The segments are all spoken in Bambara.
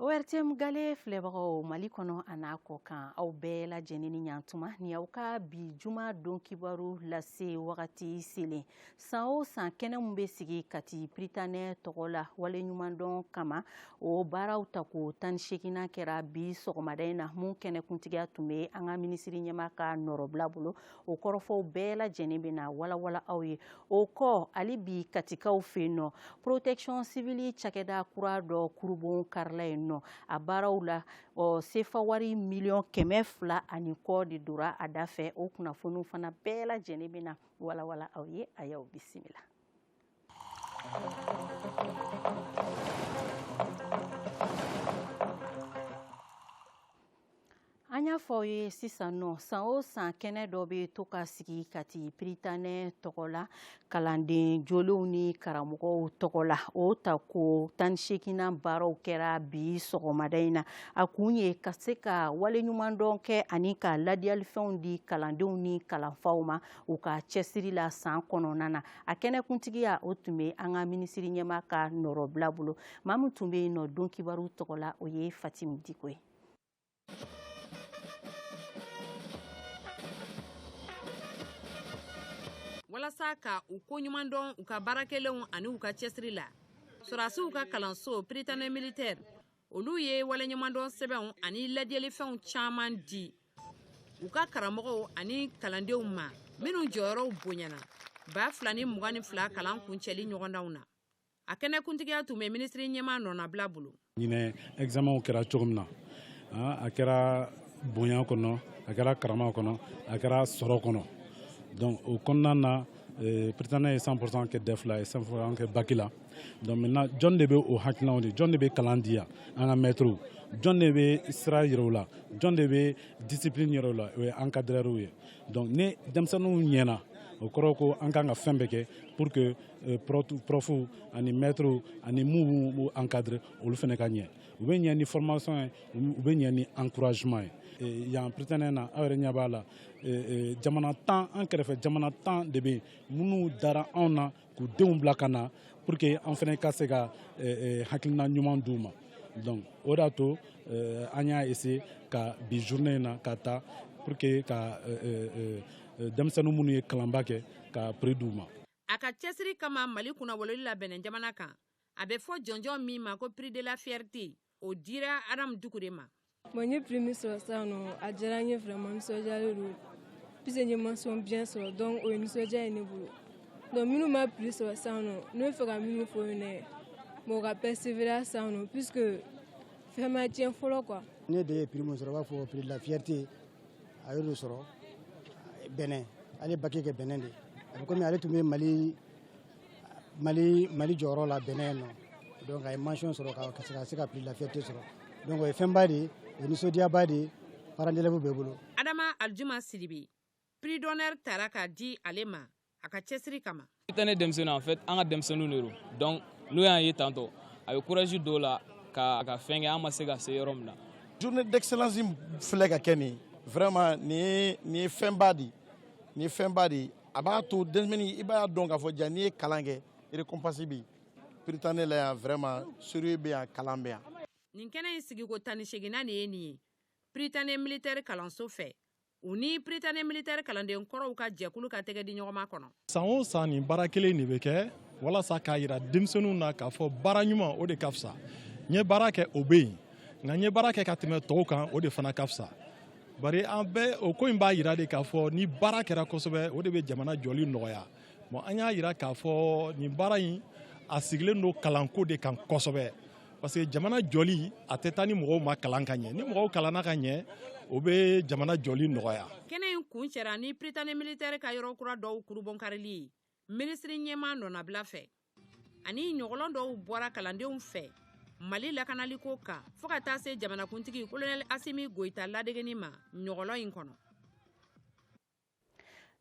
ORTM gale filɛbagaw Mali kɔnɔ a n'a kɔ kan aw bɛɛ lajɛlen ni ɲantuma ni aw ka bi juma don kibaru lase wagati selen san o san kɛnɛ min bɛ sigi Kati Piritanɛ tɔgɔ la waleɲumandɔn kama o baaraw tako tan ni seeginnan kɛra bi sɔgɔmada in na min kɛnɛkuntigiya tun bɛ an ka minisiri ɲɛmaa ka nɔrɔbila bolo o kɔrɔfɔw bɛɛ lajɛlen bɛ na walawala aw ye o kɔ hali bi katikaw fɛ yen nɔ protection civile cakɛda kura dɔ kurunbonkarila yen nɔ a baaraw la sefawari miliyɔn kɛmɛ fila ani kɔ de dora a da fɛ o kunnafoniw fana bɛɛ lajɛlen bɛ na walawala aw ye a y'aw bisimila An y'a fɔ aw ye sisan nɔ san o san kɛnɛ dɔ bɛ to ka sigi kati piritanɛ tɔgɔ la kalanden jolenw ni karamɔgɔw tɔgɔ la o tako tan ni seeginnan baaraw kɛra bi sɔgɔmada in na a kun ye ka se ka waleɲumandɔn kɛ ani ka ladiyalifɛnw di kalandenw ni kalanfaw ma u ka cɛsiri la san kɔnɔna na a kɛnɛkuntigiya o tun bɛ an ka minisiri ɲɛmaa ka nɔrɔbila bolo maa min tun bɛ yen nɔ don kibaru tɔgɔ la o ye fatimu diko ye walasa ka u ko ɲuman dɔn u ka baara kɛlenw ani u ka cɛsiri la sɔrɔdasiw ka kalanso piritanɛ militɛri olu ye waleɲumandɔn sɛbɛnw ani ladiyalifɛnw caman di u ka karamɔgɔw ani kalandenw ma minnu jɔyɔrɔw bonyana baa fila ni mugan ni fila kalan kuncɛli ɲɔgɔndanw na a kɛnɛkuntigiya tun bɛ minisiri ɲɛmaa nɔnabila bolo ɲinɛ ɛgizamɛnw kɛra cogo min na a kɛra bonya kɔnɔ a kɛra karama kɔnɔ a kɛra sɔrɔ kɔnɔ donc o kɔnɔna na eh, piritanɛ ye 100% kɛ dɛf la ye 100% kɛ baki la donc maintenant jɔn de bɛ o hakilinaw di jɔn de bɛ kalan di yan an ka mɛtiriw jɔn de bɛ sira yira u la jɔn de bɛ discipline yira u la o ye encadreurs ye donc ni denmisɛnninw ɲɛna o kɔrɔ ko an kan ka fɛn bɛɛ kɛ pour que euh, profuw ani mɛtiriw ani minnu b'u encadrer olu fana ka ɲɛ u bɛ ɲɛ ni formation ye u bɛ ɲɛ ni encouragement ye Eh, yan piritanɛ na aw yɛrɛ ɲɛ b'a la eh, eh, jamana tan an kɛrɛfɛ jamana tan de bɛ yen minnu dara anw na k'u denw bila ka na pour que an fana ka se ka eh, eh, hakilina ɲuman d'u ma donc o de y'a to eh, an y'a essayer ka bi journée in na ka ta pour que ka denmisɛnnin minnu ye kalanba kɛ ka prix d'u ma a ka cɛsiri kama mali kunnawololi la Benɛn jamana kan a bɛ fɔ jɔnjɔn min ma ko prix de la fierté o dira adamu dugu de ma Bon, n ye prix min sɔrɔ sisan nɔ a diyara n ye vraiment nisɔndiyalen don puisque n ye mention bien sɔrɔ donc o ye nisɔndiya ye ne bolo donc minnu ma prix sɔrɔ sisan nɔ ne b'a fɛ ka min fɔ u ye ne bon ka persévérer sisan nɔ puisque fɛn ma tiɲɛ fɔlɔ quoi ne den ye prix min sɔrɔ u b'a fɔ prix de la fierté a y'o de sɔrɔ Bénin a ye baki kɛ Bénin de a bɛ komi ale tun bɛ mali mali mali jɔyɔrɔ la Bénin yen nɔ donc a ye mention sɔrɔ ka ka se ka se ka prix de la fierté sɔrɔ donc o ye fɛnba de ye o ye nisɔndiyaba de ye parents d'élèves bɛɛ bolo adama aljuma sidibe prix d'honneur tara ka di ale ma a ka cɛsiri kama pritane denmisɛnninw en fait an ka denmisɛnninw de don donc n'u y'an ye tantôt a bɛ courage don u la ka ka fɛn kɛ an ma se ka se yɔrɔ min na journée d'excellence filɛ ka kɛ nin vraiment nin ye nin ye fɛnba de ye nin ye fɛnba de ye a b'a to denmisɛnnin i b'a dɔn k'a fɔ jaa n'i ye kalan kɛ récompense bɛ yen pritane la yan vraiment sérieux bɛ yan kalan bɛ yan nin kɛnɛ in sigiko tan ni seginnan de ye nin ye pritane militaire kalanso fɛ u ni pritane militaire kalanden kɔrɔw ka jɛkulu ka tɛgɛdiɲɔgɔnma kɔnɔ san o san nin baara kelen de bɛ kɛ walasa k'a yira denmisɛnninw na k'a fɔ baara ɲuman o de ka fisa n'i ye baara kɛ o bɛ yen nka n'i ye baara kɛ ka tɛmɛ tɔw kan o de fana ka fisa bari an bɛɛ o ko in b'a yira de k'a fɔ ni baara kɛra kosɛbɛ o de bɛ jamana jɔli nɔgɔya bon an y'a yira k'a fɔ nin baara in a sigilen don kalanko de kan kosɛbɛ parce que jamana jɔli a tɛ taa ni mɔgɔw ma kalan ka ɲɛ ni mɔgɔw kalanna ka ɲɛ o bɛ jamana jɔli nɔgɔya kɛnɛ in kuncɛra ni pritani militɛri ka yɔrɔ kura dɔw kurunbonkarili ye minisiri ɲɛmaa nɔnabila fɛ ani ɲɔgɔlɔn dɔw bɔra kalandenw fɛ mali lakanaliko kan fo ka taa se jamanakuntigi kolonɛli asimi goyita ladegeni ma ɲɔgɔlɔn in kɔnɔ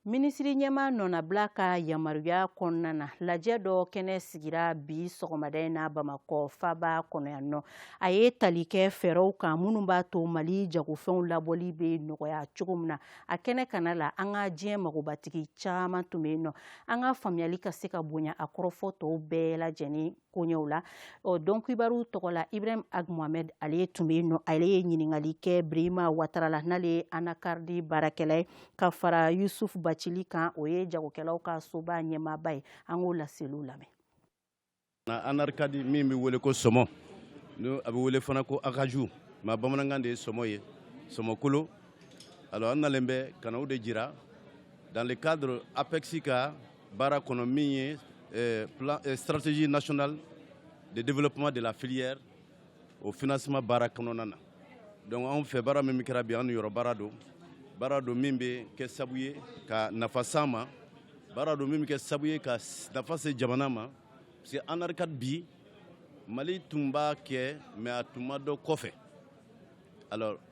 minisiri ɲɛmaa nɔnabila ka yamaruya kɔnɔna na lajɛ dɔ kɛnɛ sigira bi sɔgɔmada in na bamakɔ faba kɔnɔ yan nɔ a ye tali kɛ fɛɛrɛw kan minnu b'a to mali jagofɛnw labɔli bɛ nɔgɔya cogo min na a kɛnɛ kana la an ka diɲɛ magobatigi caman tun bɛ yen nɔ an ka faamuyali ka se ka bonya a kɔrɔfɔ tɔw bɛɛ lajɛlen koɲɛw la ɔ don kibaru tɔgɔ la ibrahim ag mohamed ale tun bɛ yen nɔ ale ye ɲininkali kɛ birima watara la n'ale ye anakaridi baarakɛla ye ka fara yusuf bacili kan o ye jagokɛlaw ka soba ɲɛmaaba ye an k'o laseliw lamɛn Anakaridi min bɛ wele ko sɔmɔ n'a bɛ wele fana ko acajou mais bamanankan de ye sɔmɔ ye sɔmɔkolo alors an nalen bɛ ka na o de jira dans le cadre APEX ka baara kɔnɔ min ye stratégie nationale de développement de la filière au financement baara kɔnɔna na donc anw fɛ baara min kɛra bi an yɔrɔ baara don baara don min bɛ kɛ sabu ye ka nafa s'an ma baara don min bɛ kɛ sabu ye ka nafa se jamana ma parce que anacarde bi mali tun b'a kɛ mais a tun ma dɔn kɔfɛ alors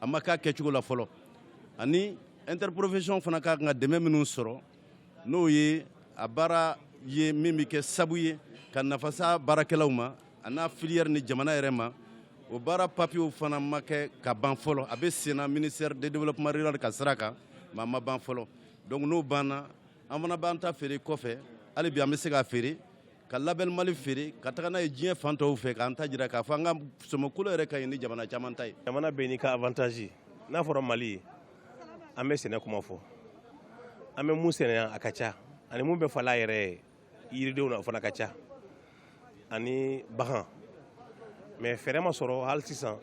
a ma k'a kɛcogo la fɔlɔ ani interprofession fana ka kan ka dɛmɛ minnu sɔrɔ n'o ye a baara ye min bɛ kɛ sabu ye ka nafa s'a baarakɛlaw ma an'a filière ni jamana yɛrɛ ma o baara papiyew fana ma kɛ ka ban fɔlɔ a bɛ senna ministère de développement rural ka sira kan mais a ma ban fɔlɔ donc n'o banna an fana b'an ta feere kɔfɛ hali bi an bɛ se k'a feere ka label mali feere ka taga n'a ye diɲɛ fan tɔw fɛ k'an ta jira k'a fɔ an ka sɔmɔkolo yɛrɛ ka ɲi ni jamana caman ta ye jamana bɛɛ n'i ka avantage n'a fɔra mali ye an bɛ sɛnɛ kuma fɔ an bɛ mun sɛnɛ yan a ka ca ani mun bɛ fala yɛrɛ ye yiridenw na o fana ka ca ani bagan mais fɛɛrɛ ma sɔrɔ hali sisan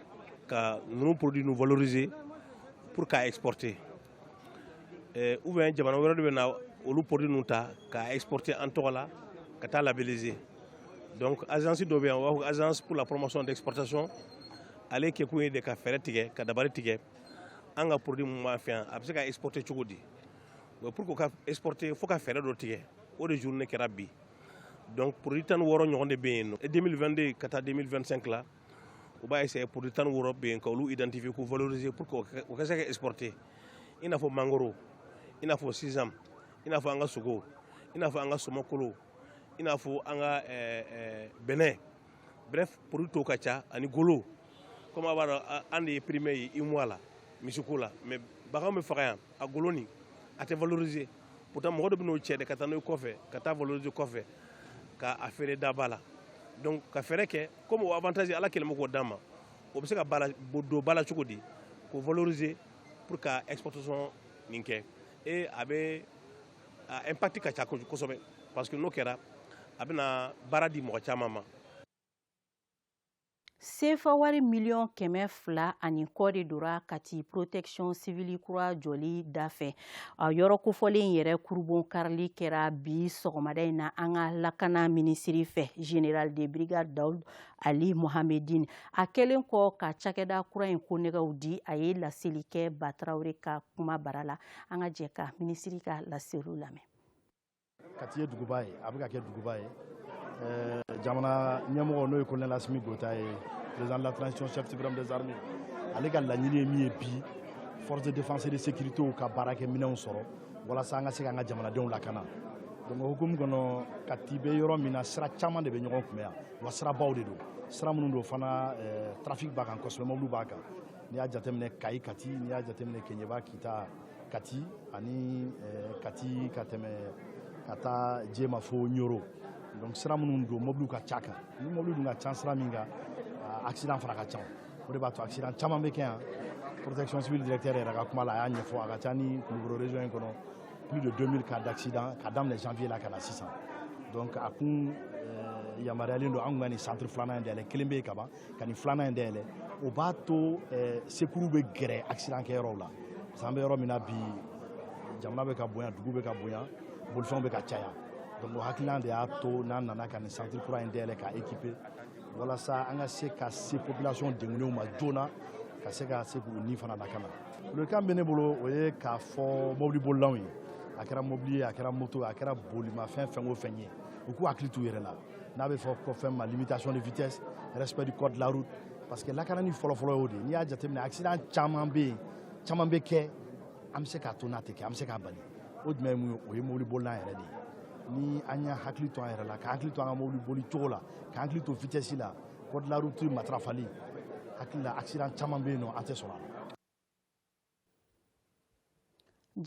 ka ninnu produit nu valoriser pour k'a exporter eh, ou bien jamana wɛrɛ de bɛ na olu produit nu ta k'a exporter an tɔgɔ la ka taa labelliser donc agence dɔ bɛ yan u b'a fɔ agence pour la promotion d'exportation ale kɛkun ye de ka fɛɛrɛ tigɛ ka dabali tigɛ an ka produit mun b'an fɛ yan a bɛ se ka exporter cogo di o pour que ka exporter fo ka fɛɛrɛ dɔ tigɛ o de journée kɛra bi donc produit tan ni wɔɔrɔ ɲɔgɔn de bɛ yen nɔ 2022 ka taa 2025 la u b'a essayer produit tan ni wɔɔrɔ bɛ yen ka olu identifier k'u valoriser pour que o ka se ka exporter i n'a fɔ mangoro i n'a fɔ sésame i n'a fɔ an ka sogo i n'a fɔ an ka sɔmɔkolo i n'a fɔ an ka eh, eh, bɛnɛ bref produit tɔw ka ca ani golo comme a b'a dɔn an de ye premier ye UEMOA la misiko la mais bagan bɛ faga yan a golo nin a tɛ valoriser pourtant mɔgɔ dɔ bɛ n'o cɛ de ka taa n'o ye kɔfɛ ka taa valoriser kɔfɛ ka a feere daba la donc ka fɛɛrɛ kɛ comme o avantage ala kɛlen bɛ k'o d'an ma o bɛ se ka don ba la cogo di k'o valoriser pour ka exportation nin kɛ et a bɛ a impact ka ca kosɛbɛ parce que n'o kɛra a bɛna baara di mɔgɔ caman ma Sefa wari miliyɔn kɛmɛ fila ani kɔ de dora Kati protection civile kura jɔli da fɛ a yɔrɔ kofɔlen in yɛrɛ kurubonkarili kɛra bi sɔgɔmada in na an ka lakana minisiri fɛ général de brigade Daoud Aly Mohammedine a kɛlen kɔ ka cakɛda kura in konnɛgɛw di a ye laseli kɛ Ba Traoré ka kumabara la an ka jɛ ka minisiri ka laseliw lamɛn kati ye duguba ye a bɛ ka kɛ duguba ye eh, jamana ɲɛmɔgɔ n'o ye colonel asimi goyita ye président de la transition chef suprême des armées ale ka laɲini ye min ye bi force de défense et de sécurité ka baarakɛ minɛnw sɔrɔ walasa an ka se k'an ka jamanadenw lakana donc o hukumu kɔnɔ kati bɛ yɔrɔ min na sira caman de bɛ ɲɔgɔn kunbɛn yan wa sirabaw de don sira minnu don fana eh, trafic b'a kan kosɛbɛ mɔbiliw b'a kan n'i y'a jateminɛ kayi kati n'i y'a jateminɛ keɲeba kita kati ani eh, kati ka tɛmɛ ka taa jema fo ɲoro donc sira minnu don mobiliw ka ca kan ni mobili dun ka ca sira min kan ah, accident fana ka ca o de b'a to accident caman bɛ kɛ yan protection civile directeur yɛrɛ ka kuma la a y'a ɲɛfɔ a ka ca ni kulukoro région in kɔnɔ plus de 2000 cas d'accident ka daminɛ janvier la ka na sisan donc a kun eh, yamaruyalen don an kun ka nin centre filanan in dayɛlɛ kelen bɛ yen kaban ka nin filanan in dayɛlɛ o b'a to eh, secours bɛ gɛrɛ accident kɛyɔrɔw la parce que an bɛ yɔrɔ min na bi jamana bɛ ka bonya dugu bɛ ka bonya bolifɛnw bɛ ka caya donc o hakilina de y'a to n'an nana ka nin centre kura in dayɛlɛ ka équiper walasa an ka se ka se population dengunenw ma joona ka se ka se k'u ni fana lakana welekan bɛ ne bolo o ye k'a fɔ mobili bolilaw ye a kɛra mobili ye a kɛra moto a kɛra bolimafɛn fɛn o fɛn ye u k'u hakili t'u yɛrɛ la n'a bɛ fɔ ko fɛn ma limitation de vitesse respect du code de la route parce que lakanani fɔlɔfɔlɔ y'o de ye n'i y'a jateminɛ accident caman bɛ kɛ an bɛ se k'a to n'a tɛ kɛ an bɛ se k'a bali o jumɛn ye mun ye o ye mobili bolila yɛrɛ de ye ni an y'an hakili to an yɛrɛ la ka hakili to an ka mobili boli cogo la ka hakili to vitesse la code de la route matarafali hakili la accident caman bɛ yen nɔ an tɛ sɔrɔ a la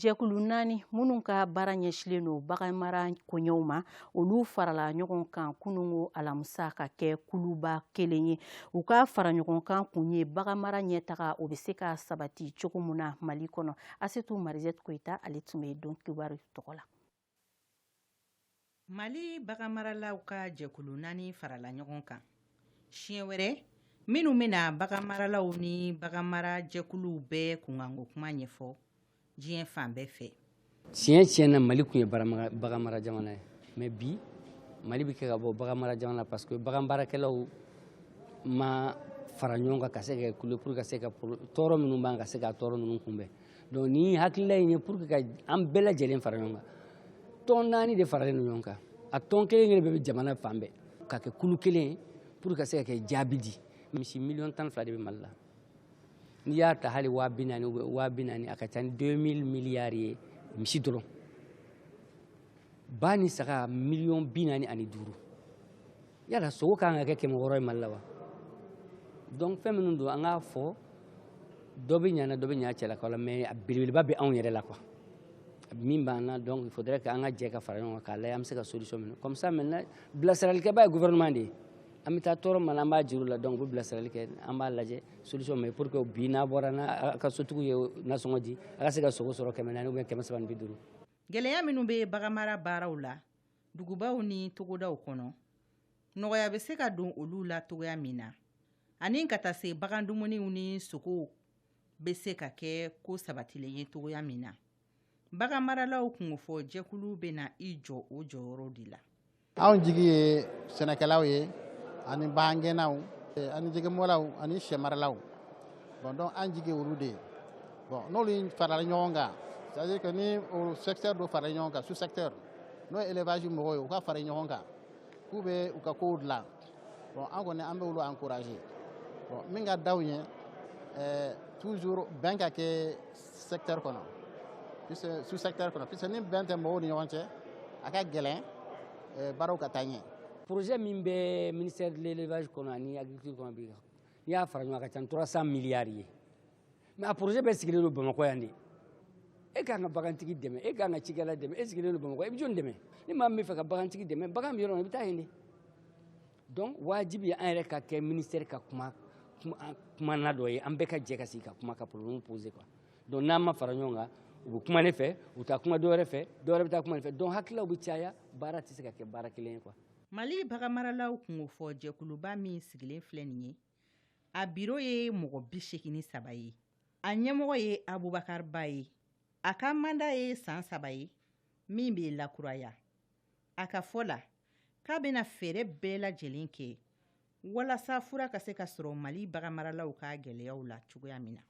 jɛkulu naani minnu ka baara ɲɛsilen don baganmara koɲɛw ma olu farala ɲɔgɔn kan kunungo alamisa ka kɛ kuluba kelen ye u ka fara ɲɔgɔn kan kun ye baganmara ɲɛtaga o bɛ se ka sabati cogo min na mali kɔnɔ asetu marizette koyita ale tun bɛ don kibaru tɔgɔ la Mali baganmaralaw ka jɛkulu naani farala ɲɔgɔn kan siɲɛ wɛrɛ minnu bɛna baganmaralaw ni bagan mara jɛkuluw bɛɛ kunkanko kuma ɲɛfɔ diɲɛ fan bɛɛ fɛ tiɲɛ tiɲɛ na mali kun ye bagan mara jamana ye mais bi mali bɛ kɛ ka bɔ bagan mara jamana parce que bagan baarakɛlaw ma fara ɲɔgɔn kan ka se ka kule pour ka se ka tɔɔrɔ minnu b'an ka se ka tɔɔrɔ ninnu kunbɛn donc ni hakilila in ye pour que ka an bɛɛ lajɛlen fara ɲɔgɔn kan tɔn naani de faralen don ɲɔgɔn kan a tɔn kelen kelen bɛɛ bɛ jamana fan bɛɛ ka kɛ kulu kelen pour ka se ka kɛ jaabi di misi miliyɔn tan fila de bɛ mali la n'i y'a ta hali waa bi naani a ka ca ni deux mille miliyari ye misi dɔrɔn ba ni saga miliyɔn bi naani ani duuru yala sogo ka kan ka kɛ kɛmɛ wɔɔrɔ ye mali la wa donc fɛn minnu don an k'a fɔ dɔ bɛ ɲana dɔ bɛ ɲa cɛlakaw la mais a belebeleba bɛ anw yɛrɛ la quoi min b'an na donc il faudrait que an ka jɛ ka fara ɲɔgɔn kan k'a lajɛ an bɛ se ka solution min comme ça maintenant bilasiralikɛba ye gouvernement de ye an bɛ taa tɔɔrɔ min na an b'a jira u la donc u bɛ bilasirali kɛ an b'a lajɛ solution ma ye pour que bi n'a bɔra n'a ka sotigiw ye nasɔngɔ di a ka se ka sogo sɔrɔ kɛmɛ naani ou bien kɛmɛ saba ni bi duuru gɛlɛya minnu bɛ baganmara baaraw la dugubaw ni togodaw kɔnɔ nɔgɔya bɛ se ka don olu la cogoya min na ani ka taa se bagan dumuniw ni sogow bɛ se ka kɛ ko sabatilen ye cogoya min na bagan maralaw kunkofɔ jɛkulu bɛna i jɔ o jɔyɔrɔ de la anw jigi ye sɛnɛkɛlaw ye ani bagangɛnnaw eh, ani jɛgɛmɔlaw ani syɛmaralaw bon donc an jigi ye olu de ye bon n'olu farala ɲɔgɔn kan c'est à dire que ni o secteur dɔ farala ɲɔgɔn kan sous secteur n'o ye élevage mɔgɔw ye u ka fara ɲɔgɔn kan k'u bɛ u ka kow dilan bon an kɔni an bɛ olu encourager bon min ka d'anw ye ɛɛ toujours bɛn ka kɛ secteur kɔnɔ sous secteur kɔnɔ puisque ni bɛn tɛ mɔgɔw ni ɲɔgɔn cɛ a ka gɛlɛn ɛɛ baaraw ka taa ɲɛ. projet min bɛ ministère de l'élevage kɔnɔ ani agriculture kɔnɔ bi n'i y'a fara ɲɔgɔn kan a ka ca ni 300 milliards ye. mais a projet bɛɛ sigilen don bamakɔ yan de e ka kan ka bagantigi dɛmɛ e ka kan ka cikɛla dɛmɛ e sigilen don bamakɔ i bɛ jɔni dɛmɛ ni maa min b'a fɛ ka bagantigi dɛmɛ bagan bɛ yɔrɔ min i bɛ taa yen de donc wajibi ye an yɛrɛ ka kɛ ministère ka kuma kumaɲɔgɔn dɔ ye an bɛɛ ka jɛ ka sigi ka kuma ka problème poser quoi donc n'an ma fara ɲɔgɔn kan u bɛ kuma ne fɛ u taa kuma dɔwɛrɛ fɛ dɔwɛrɛ bɛ taa kuma ne fɛ donc hakililaw bɛ caya baara tɛ se ka kɛ baara kelen ye quoi mali baganmaralaw kunkofɔ jɛkuluba min sigilen filɛ nin ye a biro ye mɔgɔ bi segin ni saba ye a ɲɛmɔgɔ ye abubakari ba ye a ka manda ye san saba ye min bɛ lakuraya a ka fɔ la k'a bɛna fɛɛrɛ bɛɛ lajɛlen kɛ walasa fura ka se ka sɔrɔ mali bagan maralaw ka gɛlɛyaw la cogoya min na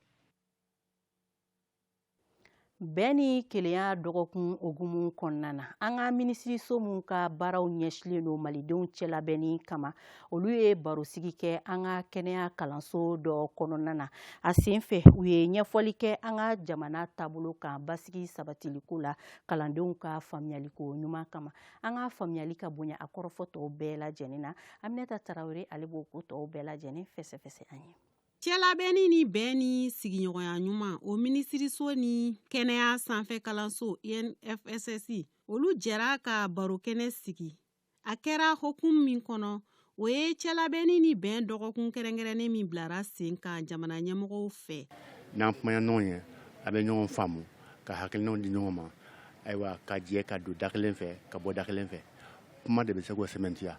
bɛn ni kelenya dɔgɔkun hukumu kɔnɔna na an ka minisiriso minw ka baaraw ɲɛsilen don malidenw cɛlabɛnni kama olu ye barosigi kɛ an ka kɛnɛya kalanso dɔ kɔnɔna na a sen fɛ u ye ɲɛfɔli kɛ an ka jamana taabolo kan basigi sabatiliko la kalandenw ka faamuyaliko ɲuman kama an ka faamuyali ka bonya a kɔrɔfɔ tɔw bɛɛ lajɛlen na aminata tarawele ale b'o ko tɔw bɛɛ lajɛlen fɛsɛfɛsɛ an ye Cɛlabɛnni ni bɛn ni sigiɲɔgɔnya ɲuman o minisiriso ni kɛnɛya sanfɛ kalanso INFSS olu jɛra ka barokɛnɛ sigi a kɛra hokumu min kɔnɔ o ye cɛlabɛnni ni bɛn dɔgɔkun kɛrɛnkɛrɛnnen min bilara sen kan jamana ɲɛmɔgɔw fɛ n'an kumana ɲɔgɔn ye an bɛ ɲɔgɔn faamu ka hakilinaw di ɲɔgɔn ma ayiwa ka jɛ ka don da kelen fɛ ka bɔ da kelen fɛ kuma de bɛ se k'o sɛmɛntiya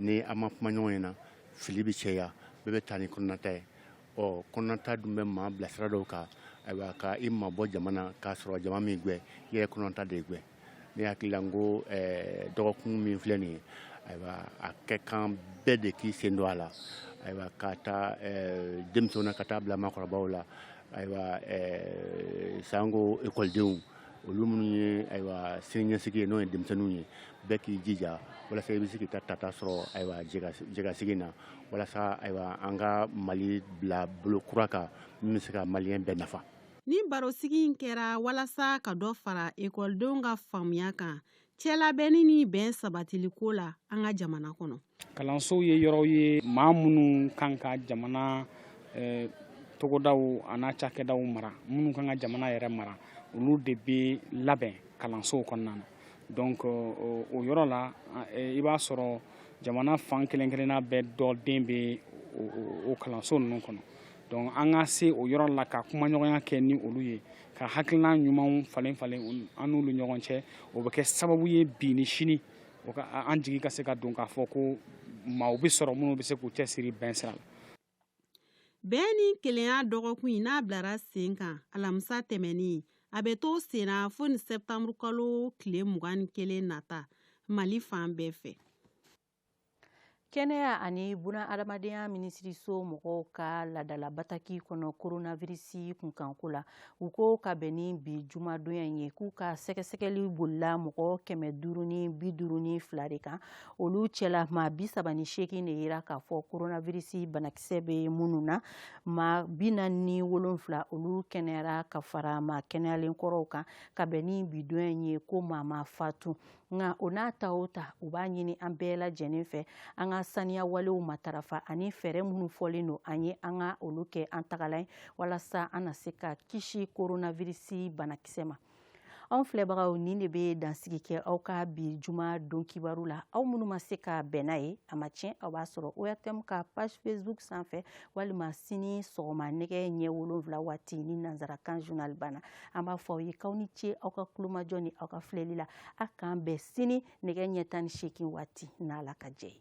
ni an ma kuma ɲɔgɔn ye na fili bɛ cɛya bɛɛ bɛ taa ni kɔnɔnata ye ɔ kɔnɔnata dun bɛ maa bila sira dɔw kan ayiwa ka i mabɔ jama na k'a sɔrɔ jama m'i gwɛn i yɛrɛ kɔnɔnata de gwɛn ne hakili la n ko eh, dɔgɔkun min filɛ nin ye ayiwa a ka kan bɛɛ de k'i sen don a la ayiwa k'a ta eh, denmisɛnw na ka taa bila maakɔrɔbaw la ayiwa eh, sanko ekɔlidenw olu minnu ye ayiwa siniɲɛsigi ye n'o ye denmisɛnninw ye bɛɛ k'i jija walasa i bɛ se k'i ta tata sɔrɔ ayiwa jɛkasigi na walasa ayiwa an ka mali bila bolo kura kan min bɛ se ka maliyɛn bɛɛ nafa nin barosigi in kɛra walasa ka dɔ fara ekɔlidenw ka faamuya kan cɛlabɛnni ni bɛn sabatili ko la an ka jamana kɔnɔ kalansow ye yɔrɔw ye maa minnu kan ka jamana eh, togodaw an'a cakɛdaw mara minnu kan ka jamana yɛrɛ mara olu de bɛ labɛn kalansow kɔnɔna na donc o yɔrɔ la eh, i b'a sɔrɔ jamana fan kelen kelenna bɛɛ dɔ den bɛ o kalanso ninnu kɔnɔ donc an ka se o yɔrɔ la ka kumaɲɔgɔnya kɛ ni olu ye ka hakilina ɲumanw falen falen an n'olu ɲɔgɔn cɛ o bɛ kɛ sababu ye bi ni sini an jigi ka se ka don k'a fɔ ko maaw bɛ sɔrɔ minnu bɛ se k'u cɛsiri bɛn sira la bɛn ni kelenya dɔgɔkun in n'a bilara sen kan alamisa tɛmɛnen a bɛ to sen na fo ni sɛptanburukalo tile mugan ni kelen nata mali fan bɛɛ fɛ kɛnɛya ani buna adamadenya minisiriso mɔgɔw ka ladala bataki kɔnɔ koronavirisi kunkanko la u ko ka bɛn ni bi jumadonya ye k'u ka sɛgɛsɛgɛli bolila mɔgɔ kɛmɛ duuru ni bi duuru ni fila de kan olu cɛla maa bi saba ni seegin de yera k'a fɔ koronavirisi banakisɛ bɛ minnu na maa bi naani ni wolonfila olu kɛnɛyara ka fara maa kɛnɛyalen kɔrɔw kan ka bɛn ni bi donya ye ko maa ma fatu nka o n'a ta o ta u b'a ɲini an bɛɛ lajɛlen fɛ an ka saniya walew matarafa ani fɛɛrɛ minnu fɔlen don an ye an ka olu kɛ an tagalan ye walasa an na se ka kisi koronavirisi banakisɛ ma anw filɛbagaw nin de bɛ dansigi kɛ aw ka bi juma don kibaru la aw minnu ma se ka bɛn n'a ye a ma tiɲɛ aw b'a sɔrɔ ortm ka page facebook sanfɛ walima sini sɔgɔma nɛgɛ ɲɛ wolonwula waati ni nansarakan journal banna an b'a fɔ aw ye k'aw ni ce aw ka kulomajɔ ni aw ka filɛli la a k'an bɛn sini nɛgɛ ɲɛ tan ni seegin waati n'ala ka jɛ ye